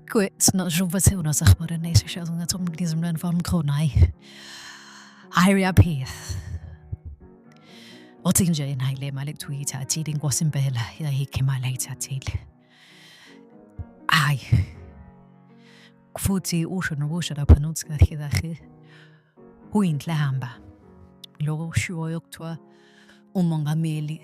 Quit, not sure what's on us, but in this show, I'm going to talk to you from Kronai. Iria Peace. Othi nje nayi le mali ekuthiwa uyithathile inkosi impela yayikhe imali ayithathile Ay. Futhi usho nokusho lapha nokuthi kahle kahle uyinhlamba. Lokho kushiwoyo kuthiwa umongameli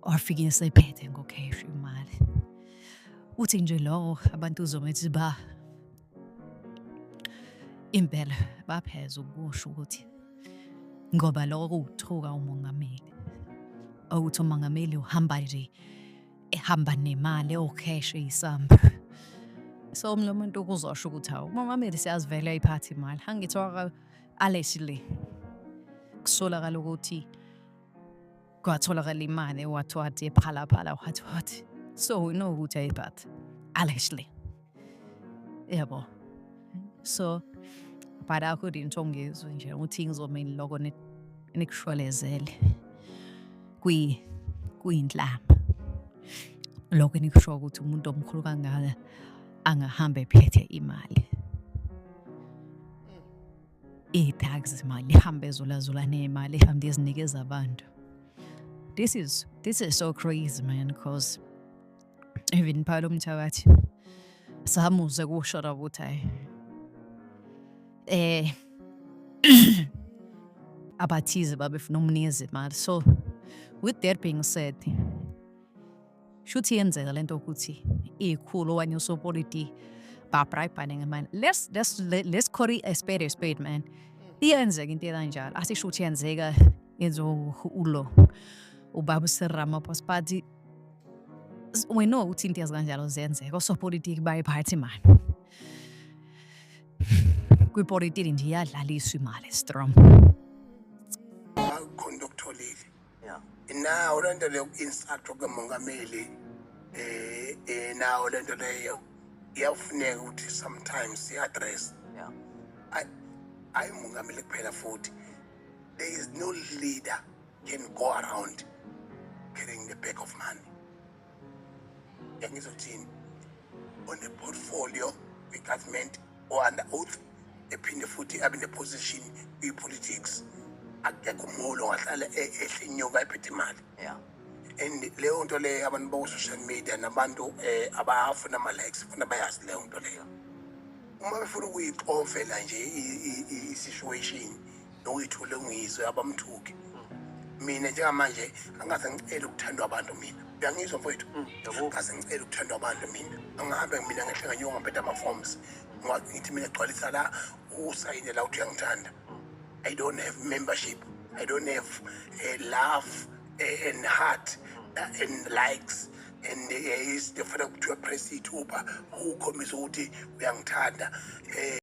wafike esephethe ngokhesha imali. Uthi nje lowo abantu uzomethi ba Impela bapheza ukusho ukuthi ngoba lokho kuwuthuka umongameli. Ukuthi umongameli uhamba nje ehamba nemali ewucash eyisamba. So umlo umuntu ukuzosho ukuthi hawu umongameli siyazivela iphathi imali. Angithi waka allegedly kusolakala ukuthi kwatholakala imali wathi wathi ephalaphala wathi wathi so we know ukuthi ayiphathe allegedly yabo so but I couldn't ongizwe nje ukuthi ngizomeni lokho nikushwelezele kwi kuyinhlamba lokho enikusho ukuthi umuntu omkhulu kangaka angahambe ephethe imali ii-tags mali ihambe ezulazula neemali ihambe izinikeza abantu this is this is so crazy man because even phalo mthakathi samuze kusho la ukuthi hayi eh abathize babefuna umnikeza imali so with that being said shuthi yenzeka lento ukuthi ikhulu okanye usopolitiki babrayibhane ngemali let's let's let's call it a spade a spade man iyenzeka into ekanjalo asisho ukuthi yenzeka yenziwa ulo ubaba usiramaphosa but we know ukuthi into ezikanjalo ziyenzeka osopolitiki bayiphathi imali kwipolitiki nje iyadlaliswa imali strong nawo lento leyo ku-instructor kukamongameli eh, eh nawo lento leyo iyafuneka ukuthi sometimes i-address hayi umongameli kuphela futhi there is no leader can go around carrying the bag of money ngizothini on the portfolio the government or under oath ephinde futhi abe neposition kwi-politics akekho umholi ongahlala e-, ehle inyuka ephethe imali and leyo nto leyo abantu baku-social media nabantu um eh, abafuna ama-likes funa bayazi leyo nto leyo uma befuna ukuyixovela nje i-situation nowethu lengizwe abamthuki mina njengamanje angaze ngicele ukuthandwa abantu mina uyangizwa mfowethu mm, angaze ngicele ukuthandwa abantu mina angihambe mina ngehle nganyuka ngaphetha ama-forms ngithi mina gcwalisa la usayine la uthi uyangithanda i don't have membership i don't have uh, love uh, and heart uh, and likes and eh, uh, is ndifuna kuthiwa press ithuba ukhombisa ukuthi uyangithanda um